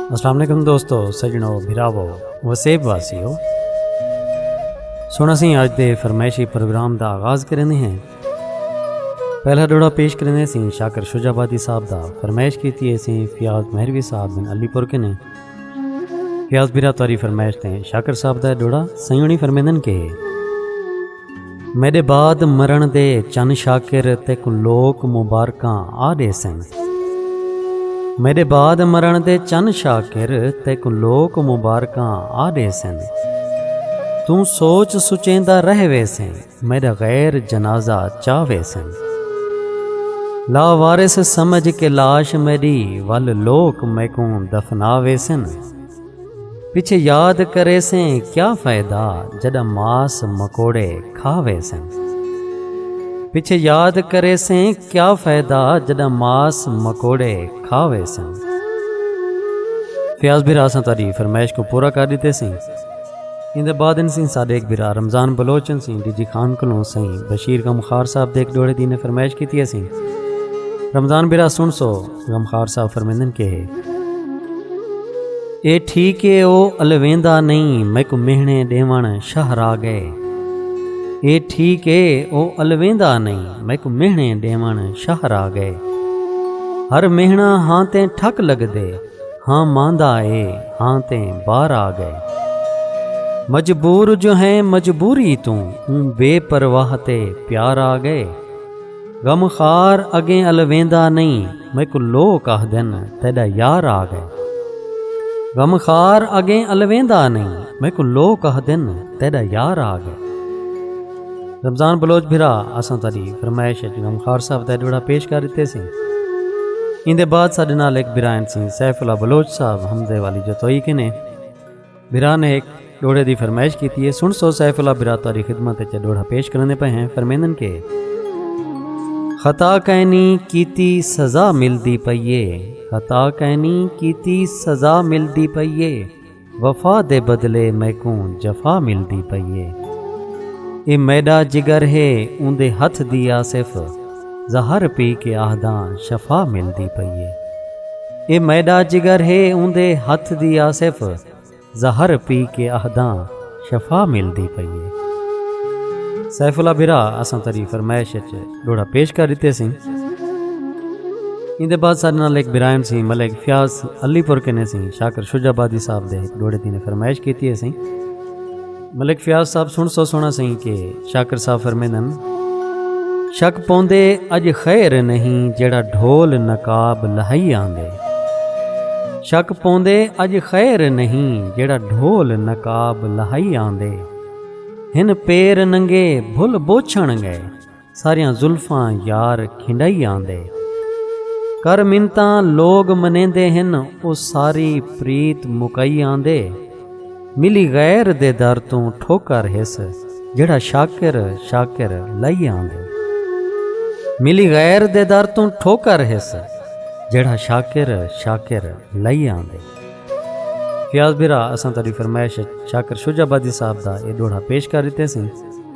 السلام علیکم دوستو سجنو بھراو وسیب واسیو سونا سی اج دے فرمائشی پروگرام دا آغاز کرنے ہیں پہلا ڈوڑا پیش کرنے سی شاکر شجا بادی صاحب دا فرمائش کی تھی سی فیاض مہروی صاحب بن علی پور کنے فیاض بھرا تواری فرمائش تے شاکر صاحب دا ڈوڑا سیونی فرمیدن کے میڈے بعد مرن دے چن شاکر تیکو لوک مبارکاں آ ڈیسن میڈے بعد مرن دے چن شاکر تیکو لوک مبارکاں آ ڈیسن توں سوچ سچیندا رہ ویسیں میڈا غیر جنازہ چا ویسن لا وارث سمجھ کے لاش میڈی ول لوک میکوں دفنا ویسن۔ پچھے یاد کرے سیں کیا فائدہ جدا ماس مکوڑے کھا وے سن پچھے یاد کرے سیں کیا فائدہ جدا ماس مکوڑے کھا وے سن فیاض بھرا سن تاری فرمائش کو پورا کر دیتے سیں ان دے بعد ان سین صادق بھرا رمضان بلوچن سین ڈی جی خان کلوں سین بشیر غمخار صاحب دے ایک ڈوڑے دین فرمائش کیتی ہے سین رمضان بھرا سن سو غمخوار صاحب فرمیندن کہ اے ٹھیک اے او الویندا نہیں میکو مہنے ڈیون شاہ را گئے اے ٹھیک اے او الویندا نہیں میکو مہنے ڈیون شاہ را گئے ہر مہنا ہاں تے ٹھک لگ دے ہاں ماندا اے ہاں تے بار آ گئے مجبور جو ہیں مجبوری توں اوں بے پرواہ تے پیار آ گئے غم خار اڳیں الویندا نئیں میکوں لوک آہدن تیݙا یار آ ڳئے غم خار اڳیں الویندا نئیں میکوں لوک آہدن تیݙا یار آ ڳئے رمضان بلوچ بھرا اساں تہاݙی فرمائش اچ غم خار صاحب دا ݙوہڑا پیش کر ݙتے سیں ایندے بعد ساݙے نال ہک بھرا ہن سیں سیف اللہ بلوچ صاحب حمزے والی جتوئی کنے بھرا نے ہک ڈوہڑے دی فرمائش کیتی ہے سن سو سیف اللہ بھرا تہاڈی خدمت وچ اے ڈوہڑا پیش کریندے پئے ہیں فرمیندن کہ خطا کینی کیتی سزا ملدی پئی اے خطا کینی کیتی سزا ملدی پئی اے وفا دے بدلے میکوں جفا ملدی پئی اے اے میڈا جگر ہے اوندے ہتھ دی آصف زہر پی کے آہداں شفا ملدی پئی اے اے میڈا جگر ہے اوندے ہتھ دی آصف زہر پی کے آہداں شفا ملدی پئی اے۔ سیف اللہ بھرا اساں تیڈی فرمائش اچ ڈوہڑا پیش کر ڈتے سیں ایندے بعد ساڈے نال ہک برایم سیں ملک فیاض علی پور کنے سیں شاکر شجاع آبادی صاحب دے ہک ڈوہڑے دی نے فرمائش کیتی ہے سیں۔ ملک فیاض صاحب سن سو سونا سہی کے شاکر صاحب فرمینن شک پوندے اج خیر نہیں جیڑا ڈھول نقاب لہائی آندے شک پوندے اج خیر نہیں جیڑا ڈھول نقاب لہائی آندے ہن پیر ننگے بھل بوچھن گئے ساریاں زلفاں یار کھنڈائی آندے۔ کر منتاں لوگ منیندے ہن او ساری پریت مکائی آندے۔ ملی غیر دے در توں ٹھوکر ہس جیڑھا شاکر شاکر لائی آندے۔ ملی غیر دے در توں ٹھوکر ہس جیڑھا شاکر شاکر لائی آندے۔ فیاض بھرا اساں تہاڈی فرمائش اچ شاکر شجاع آبادی صاحب دا اے ڈوہڑا پیش کر ڈتے سیں۔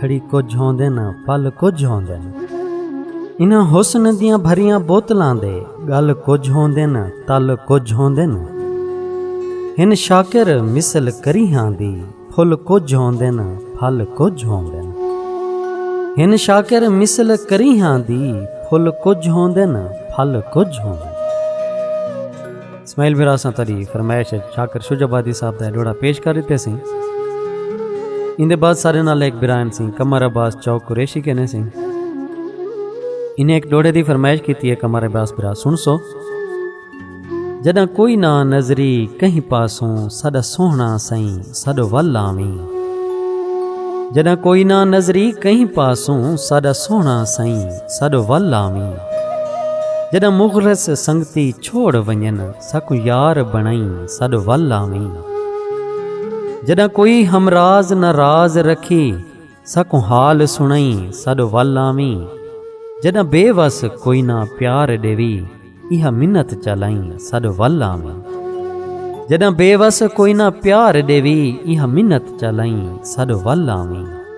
گھڑی کجھ ہوندے نہ پل کجھ ہوندے نہ انہاں حسن دیاں بھریاں بوتلاں دے گل کجھ ہوندے نہ تل کجھ ہوندے نہ ہن شاکر مثل کریہاں دی پھل کجھ ہوندے نہ پھل کجھ ہوندے نہ ہن شاکر مثل کریہاں دی پھل کجھ ہوندے نہ پھل کجھ ہوندے نہ اسماعیل بھرا اساں تہاݙی فرمائش اچ شاکر شجع آبادی صاحب دا اے ݙوہڑا پیش کر ݙتے سئیں۔ ایندے بعد ساݙے نال ہک بھرائن سئیں قمر عباس چوک قریشی کینے سئیں۔ انھیں ہک ݙوہڑے دی فرمائش کیتی اے قمر عباس بھرا سݨسو۔ جݙاں کوئی نہ نظری کہیں پاسوں ساݙا سوہݨا سئیں ساݙو ول آویں۔ جݙاں کوئی نہ نظری کہیں پاسوں ساݙا سوہݨا سئیں ساݙو ول آویں۔ جݙاں مخلص سنگتی چھوڑ ونڄن ساکوں یار بݨئیں ساݙ ول آویں جݙاں کوئی ہمراز نہ راز رکھی ساکوں حال سݨئیں ساݙ ول آویں جݙاں بے وس کوئی نہ پیار ݙیوی ایہا منت چالائیں ساݙ ول آویں جݙاں بے وس کوئی نہ پیار ݙیوی ایہا منت چالائیں ساݙ ول آویں۔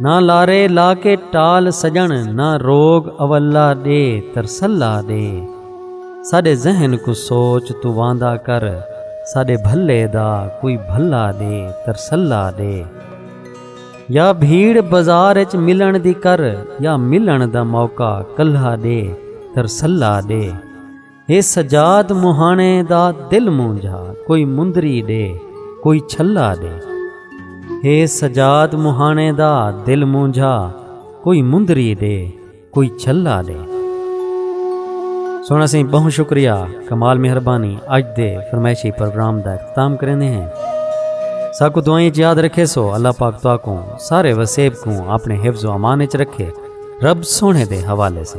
نہ لارے لا کے ٹال سجن نہ روگ اولا دے ترسلا دے ساڈے ذہن کو سوچ تو واندا کر ساڈے بھلے دا کوئی بھلا دے ترسلا دے یا بھیڑ بازار اچ ملن دی کر یا ملن دا موقع کلھا دے ترسلا دے ہے سجاد مہاݨے دا دل مونجھا کوئی مندری ݙے کوئی چھلا ݙے ہے سجاد مہاݨے دا دل مونجھا کوئی مندری ݙے کوئی چھلا ݙے سونا سی بہت شکریہ کمال مہربانی اج دے فرمائشی پروگرام دا اختتام کرنے ہیں ساکو دعائیں یاد رکھے سو اللہ پاک تو کو سارے وسیب کو اپنے حفظ و امان چ رکھے رب سونے دے حوالے سے